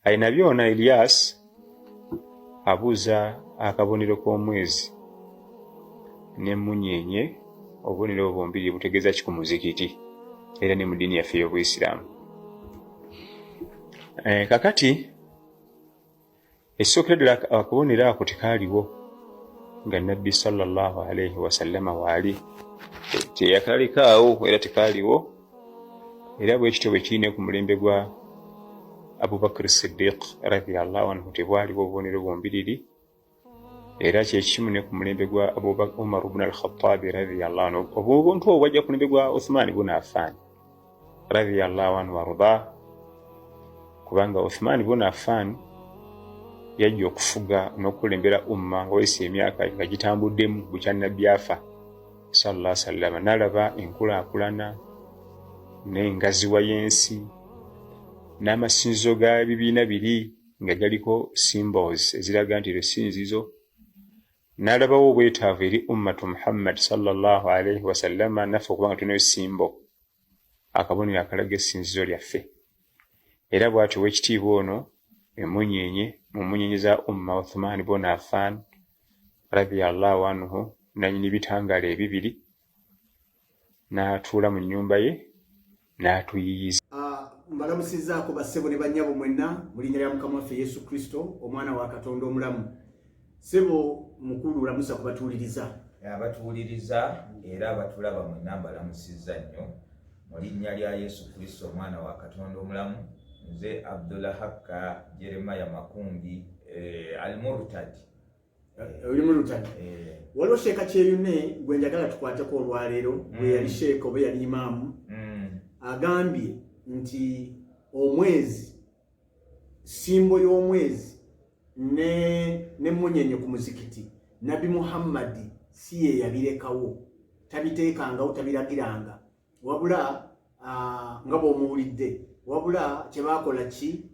alina byona Elias abuuza akabonero k'omwezi n'emmunyeenye obubonero obwo bombiri butegeeza ki ku muzikiti era ne mu ddiini yaffe ey'obuisiraamu eh, kakati ekisookera ddala akabonero ako tekaaliwo nga nabbi sallallahu alaihi wasallama waali teyakalikaawo era tekaaliwo era bwekityo bwekiri ne ku mulembe gwa abubakar sidiq radiallahu anhu tebwaliwo obubonero bombiriri era kyekimu ne ku mulembe gwa umar bun alkhatabi radiallahu anhu obuntu obwo bwajja ku mulembe gwa uthmani bun afaani radiallahu anhu warda kubanga uthmani bun afaani yajja okufuga n'okukulembera umma nga wayisa emyaka nga gitambuddemu bukya nabbi afa sallallahu alaihi wasallam nalaba enkulaakulana n'engaziwa y'ensi n'amasinzizo ga bibiina biri nga galiko symbols eziraga nti eryo sinzizo n'alabawo obwetaavu eri ummatu muhammad sallallahu alaihi wasallama naffe okuba nga tulinayo simbo akabonero akalaga essinzizo lyaffe era bw'atyo ow'ekitiibwa ono emmunyeenye mu mmunyeenye za umma uthman bona afan radiallahu anhu nanyini bitangaala ebibiri n'atuula mu nnyumba ye n'atuyiyiza ah, mbalamusizaako bassebo ne bannyabo mwenna mu linnya lya mukama waffe yesu kristo omwana wa katonda omulamu Sebo mukulu lamusa kubatuuliriza. Abatuuliriza era abatulaba mwenna mbalamusizza nnyo mu linnya lya Yesu Kristo omwana wa Katonda omulamu. Nze Abdullah Hakka Jeremiah Makumbi eh, Al-Murtad. Eh, oli Murtad. Eh. Waliwo sheeka kyeyune gwe njagala tukwateko olwaleero bwe mm. yali sheeka oba yali imaamu mm. agambye nti omwezi simbo y'omwezi ne ne munyenye ku muzikiti nabi muhammadi si ye yabirekawo tabiteekangawo tabiragiranga wabula nga bwomuwulidde wabula kyebakola ki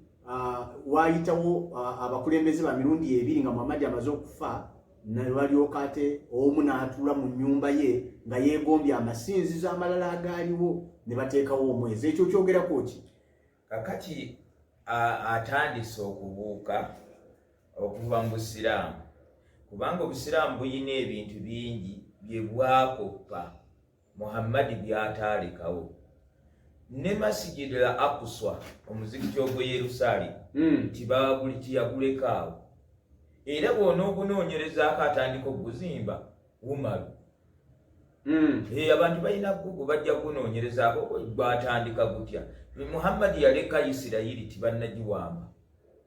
waayitawo abakulembeze ba mirundi ebiri nga muhammadi amaze okufa nebalyoka ate omu n'atuula mu nnyumba ye nga yeegombye amasinzizo amalala agaaliwo ne bateekawo omwezi ekyo kyogerako ki kakati atandise okubuuka okuva mu busiraamu kubanga obusiraamu bulina ebintu bingi bye bwakoppa muhammadi byataalekawo ne masigidi la akuswa omuzikiti ogw'e yerusaalemu hmm. nti baaguli tiyagulekaawo era bw'onoogunoonyerezaako atandika okuguzimba umaru hmm. eh, abantu balina gugu bajja kunoonyerezaako gwatandika gutya muhammadi yaleka isirayiri tibannagiwamba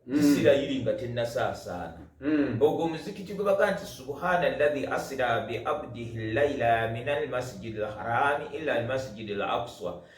hmm. isirayiri nga tennasaasaana hmm. ogwo omuzikiti gwe baga nti subhana llahi asira biabdihi llaila min almasjidi lharami ila almasjidi lakswa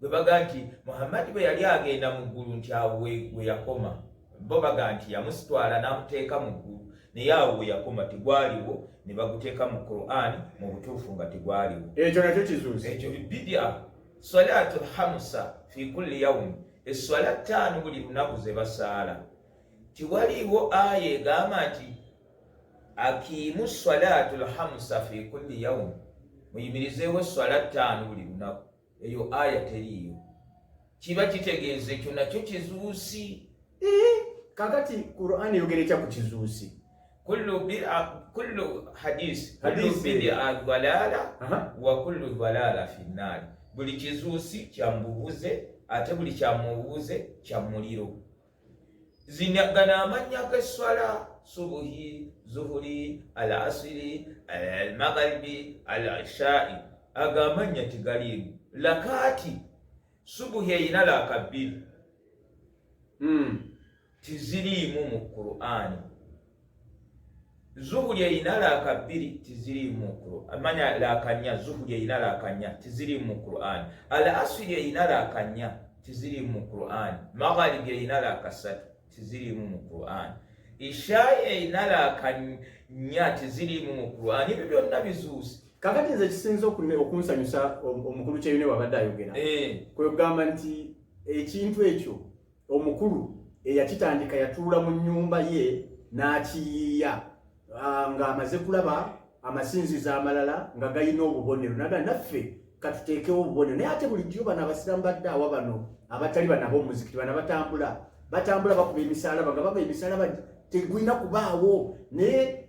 bwe baga nti muhammadi bwe yali agenda mu ggulu nti awo we yakoma bo baga nti yamusitwala n'amuteeka mu ggulu naye awo we yakoma tegwaliwo ne baguteeka mu qurani mu butuufu nga tegwaliwo ekyo nakyo kizuuzi ekyo bidia salatu lhamusa fi kulli yaumi esswala ttaano buli lunaku ze basaala tiwaliwo aya egamba nti akiimu salatu lhamusa fi kulli yaumi muyimirizeewo esswala ttaano buli lunaku eyo aya teriiyo kiba kitegeeza ekyo nakyo kizuusi eh, kakati quran eyogera ekya ku kizuusi kullu hadisi kullu bidia dalala wa kullu dalala fi nnaari buli kizuusi kyamubuze ate buli kyamubuze kya muliro zinagana amannya g'esswala subuhi zuhuri al asiri al magharibi al ishai ago amannya tegaliimu lakaati subuhi erina laaka bbiri hmm. tiziriimu mu qur'ani zuhuli erina laaka bbiri tiziriimu mu quran amanya laaka nnya zuhuli erina laaka nnya tiziriimu mu quran al asiri erina laaka nnya tiziriimu mu quran magharibi erina laaka ssatu tiziriimu mu quran ishai erina laaka nnya tiziriimu mu quran ebyo byonna bizuuse kakati nze kisinza okunsanyusa omukulu kyeyune wabadde ayogera eh. kwegamba nti ekintu ekyo Omukulu eyakitandika yatuula mu nnyumba ye n'akiyiiya ah, ng'amaze kulaba amasinzizo amalala nga galina obubonero naga naffe katuteekewo obubonero naye ate bulijjo bano abasiramu badde awa bano abatali bano ab'omuzikiti bano batambula batambula bakuba emisaalaba nga baba emisaalaba tegulina kubaawo naye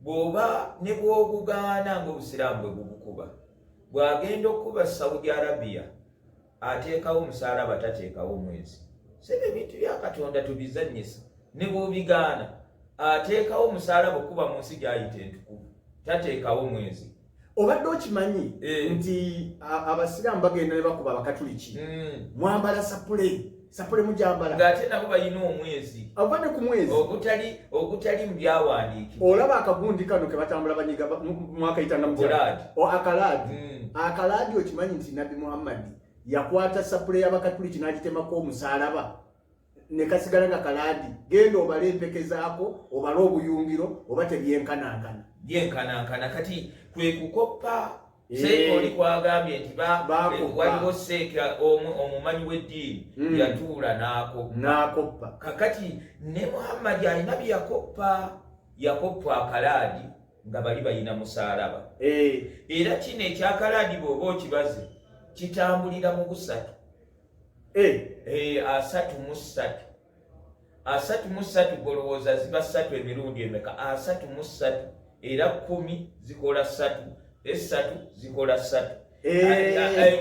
bw'oba ne bw'ogugaana ng'obusiraamu bwe bugukuba bw'agenda okukuba saudi arabia ateekawo omusaalaba tateekawo omwezi sebe ebintu bya katonda tubizannyisa ne bw'obigaana ateekawo omusaalaba okukuba mu nsi gy'ayita entukuvu tateekawo mwezi obadde okimanyi eh. nti abasiraamu bagenda ne bakuba abakatuliki hmm. mwambala sapule sapule mujambala ng'ate nabo balina omwezi ava ne ku mwezi ogutali ogutali mu byawandiikibwa olaba akagundi kano ke batambula banyiga mwakayita namukalaadi akalaadi hmm. akalaadi okimanyi nti nabbi muhammadi yakwata sapule y'abakatuliki n'agitemako omusalaba ne kasigala nga kalaadi genda obale empeke zaako obale obuyungiro oba tebyenkanankana byenkanankana kati kwe kukoppa eh. seekoli kwagambye nti waliwo seeka omumanyi w'eddiini hmm. yatuula n'akoppa kakati ne muhammadi alina bye yakoppa yakoppa akalaadi nga bali balina musaalaba eh. era kino ekyakalaadi bw'oba okibaze kitambulira mu busatu asatu mu ssatu asatu mu ssatu golowooza ziba ssatu emirundi emeka asatu mu ssatu era kumi zikola ssatu essatu zikola ssatu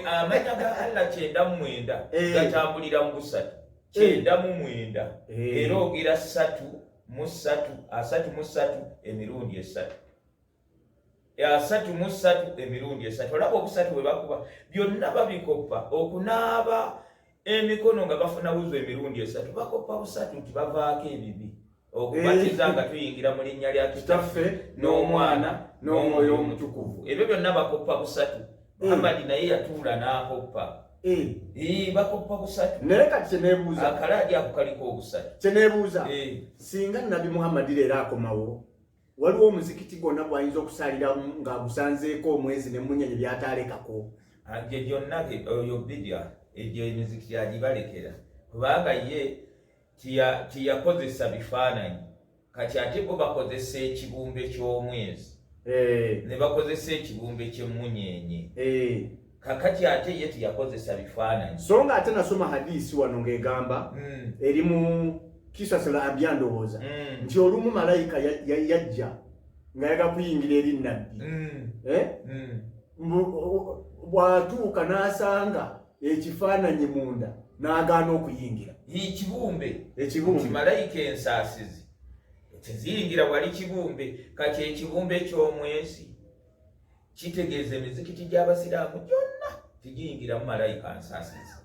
amanya ga allah kyenda mu mwenda gatambulira mu busatu kyenda mu mwenda era ogera ssatu mu ssatu asatu mu ssatu emirundi essatu asatu mu ssatu emirundi esatu olaba obusatu bwe bakuba byonna babikoppa okunaaba emikono nga bafuna wuzu emirundi esatu bakoppa busatu nti bavaako ebibi okubatiza nga tuyingira mu linnya lya kitaffe n'omwana n'omwoyo omutukuvu ebyo byonna bakoppa busatu eh. amadi naye yatuula n'akoppa eh. bakoppa busatu naye kati kyenebuuza akalaadi ako kaliko obusatu kyenebuuza eh. singa nabi muhammadi leero akomawo waliwo omuzikiti gwonna gwayinza okusaalira ng'agusanzeeko omwezi ne munyenye byataalekako agyo ah, gyonna oyo bidya egyo emizikiti agibalekera kubanga ye tiyakozesa bifaananyi kati ate bo bakozesa ekibumbe ky'omwezi eh. ne bakozesa ekibumbe ky'emmunyeenye eh. kakati ate ye teyakozesa bifaananyi so nga ate nasoma hadisi wano ng'egamba mm. eri mu kisasala abya ndowooza mm. nti olumu malayika yajja nga yaga kuyingira eri nabbi mm. eh? bwatuuka n'asanga ekifaananyi munda n'agaana okuyingira ekibumbe ekibumbe malayika ensaasizi teziyingira wali kibumbe kati ekibumbe ky'omwezi kitegeeza emizikiti gy'abasiraamu gyonna tegiyingiramu malayika nsaasizi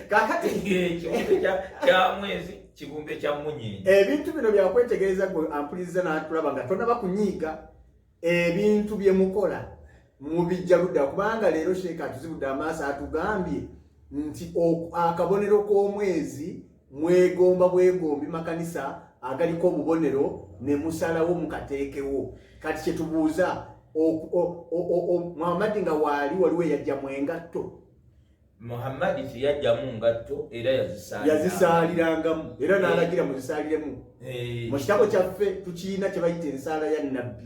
kakati ekibumbe kya mwezi kibumbe kya munyini ebintu bino byakwetegereza gwe ampuliriza natulaba nga tonaba kunyiiga ebintu bye mukola mubijja ludda kubanga leero sheeka atuzibudde amaaso atugambye nti akabonero k'omwezi mwegomba bwegombi makanisa agaliko obubonero ne musalawo mukateekewo kati kyetubuuza muhammadi nga waali waliwo eyajjamu engatto muhammadi teyajjamu ngatto era yazisaalirangamu era eh. n'alagira muzisaaliremu eh. mu kitabo kyaffe tukirina kye bayita ensaala ya nabbi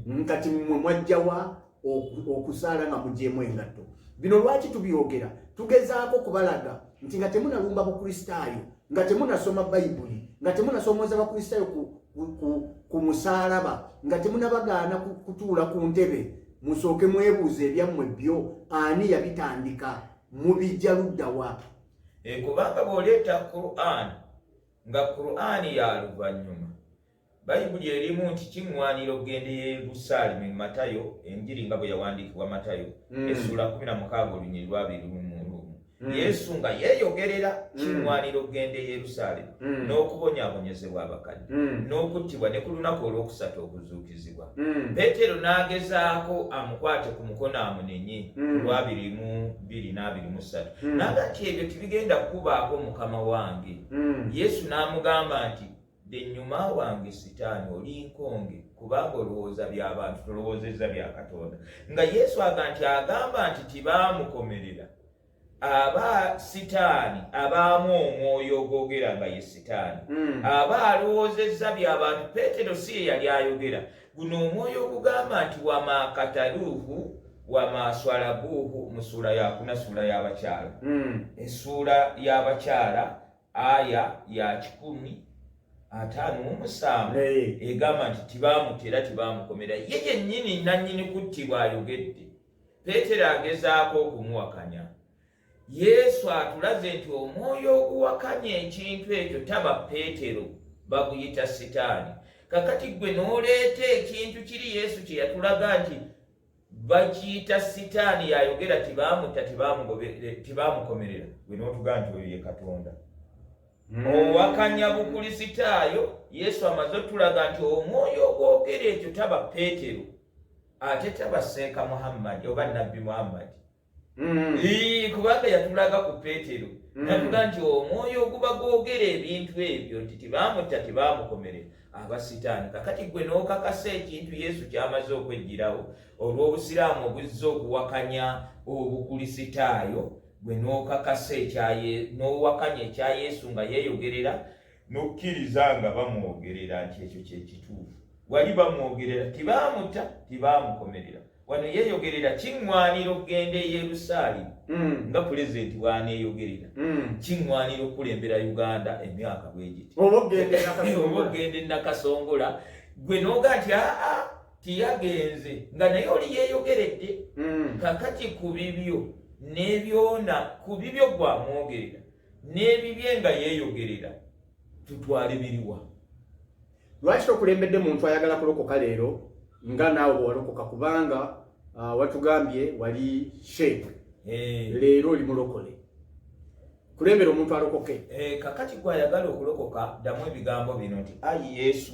mm. kati mwe mwajjawa okusaala nga mugyemu engatto bino lwaki tubyogera tugezaako kubalaga nti nga temunalumba bukristaayo nga temunasoma bayibuli nga temunasomooza bakristaayo ku, ku, ku, ku musaalaba nga temunabagaana kutuula ku ntebe musooke mwebuuza ebyammwe byo ani yabitandika mubijja luddawa e, kubanga bw'oleeta quran nga quran ya luvannyuma Bayibuli erimu nti kiŋŋwanira okugenda e Yerusaalemi mu Matayo, Enjiri nga bwe yawandiikibwa Matayo, mm. essuula kumi na mukaaga olunyiri lwabiri lumu lumu. Mm. Yesu nga yeeyogerera mm. kiŋŋwanira okugenda e Yerusaalemi mm. n'okubonyaabonyezebwa abakadde mm. n'okuttibwa ne ku lunaku olwokusatu okuzuukizibwa. Mm. Peetero n'agezaako amukwate ku mukono amunenye mm. lwabiri mu biri n'abiri mu ssatu mm. naga nti ebyo tibigenda kukubaako mukama wange mm. Yesu n'amugamba nti Ndi nnyuma wange sitaani oli nkonge kubanga olowooza bya bantu tolowoozezza bya Katonda. Nga Yesu aga nti agamba nti tibaamukomerera aba sitaani abaamu omwoyo ogwogera nga ye sitaani hmm. aba alowoozezza bya bantu. Peetero si ye yali ayogera guno omwoyo ogugamba nti wamaakataluuhu wamaaswalabuuhu mu suula yakuna suula y'abakyala hmm. esuula y'abakyala aya ya kikumi ataano mu musanvu egamba nti tibaamuta era tibaamukomera ye yennyini nannyini kuttibwa ayogedde peetero agezaako okumuwakanya yesu atulaze nti omwoyo oguwakanya ekintu ekyo taba peetero baguyita sitaani kakati gwe n'oleeta ekintu kiri yesu kye yatulaga nti bakiyita sitaani yayogera tibamutta tibamukomerera gwe notuga nti oyo ye katonda hmm. owakanya bukulisitaayo yesu amaze otulaga nti omwoyo ogwogera ekyo taba peetero ate taba seeka muhammadi oba nabbi muhammadi Mm. kubanga yatulaga ku petero mm. natuga nti omwoyo oguba gwogera ebintu ebyo nti tibamutta tibamukomere aba sitaani kakati gwe n'okakasa ekintu yesu kyamaze okwejjirawo olw'obusiraamu obuzza okuwakanya obukulisitaayo gwe n'okakasa n'owakanya ekya yesu nga yeeyogerera n'okkiriza nga bamwogerera nti ekyo kyekituufu wali bamwogerera tibaamuta tibaamukomerera wano yeeyogerera kiŋŋwanira okugenda e yerusaalimu hmm. nga pulezidenti bwaneeyogerera hmm. kiŋŋwanira okukulembera uganda emyaka bwegiti oba okugenda enakasongola gwe nooga nti aa tiyagenze nga naye oli yeeyogeredde hmm. kakati ku bibyo n'ebyona ku bibyo gwamwogerera n'ebibye nga yeeyogerera tutwale biriwa lwaki tokulembedde muntu ayagala kulokoka leero nga naawe bwewalokoka kubanga uh, watugambye wali sheik eh. leero oli mulokole kulembera omuntu alokoke eh, kakati gwe ayagala okulokoka ddamu ebigambo bino nti ayi yesu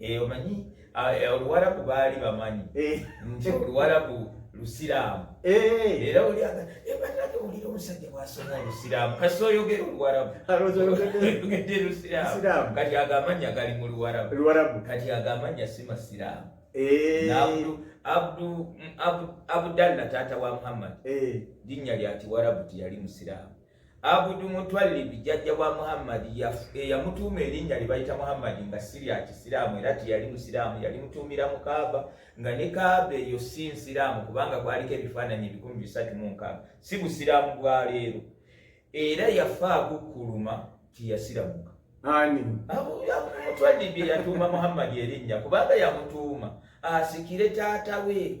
Eh, omanyi ah, eh, oluwarabu baali bamanyi eh. nti oluwarabu lusiraamu era oliabanake olira omusajja bwasoma olusiraamu kasi oyogera oluwarabuogedde lusiraamu kati ago amanya gali mu luwarabu kati ago amanya si masiraamu abdalla taata wa muhammad linnya lya kiwarabu tiyali musiraamu Abudu Mutwalibi jjajja wa Muhammadi eyamutuuma erinnya lye bayita Muhammadi nga si lya Kisiraamu era teyali Musiraamu, yalimutuumira mu Kaaba nga ne Kaaba eyo si Nsiraamu kubanga kwaliko ebifaananyi ebikumi bisatu mu nkaaga, si Busiraamu bwa leero. Era yafa agukkuluma tiyasiramuka. Ani? Abudu Mutwalibi yatuuma Muhammadi erinnya kubanga yamutuuma asikire taata we.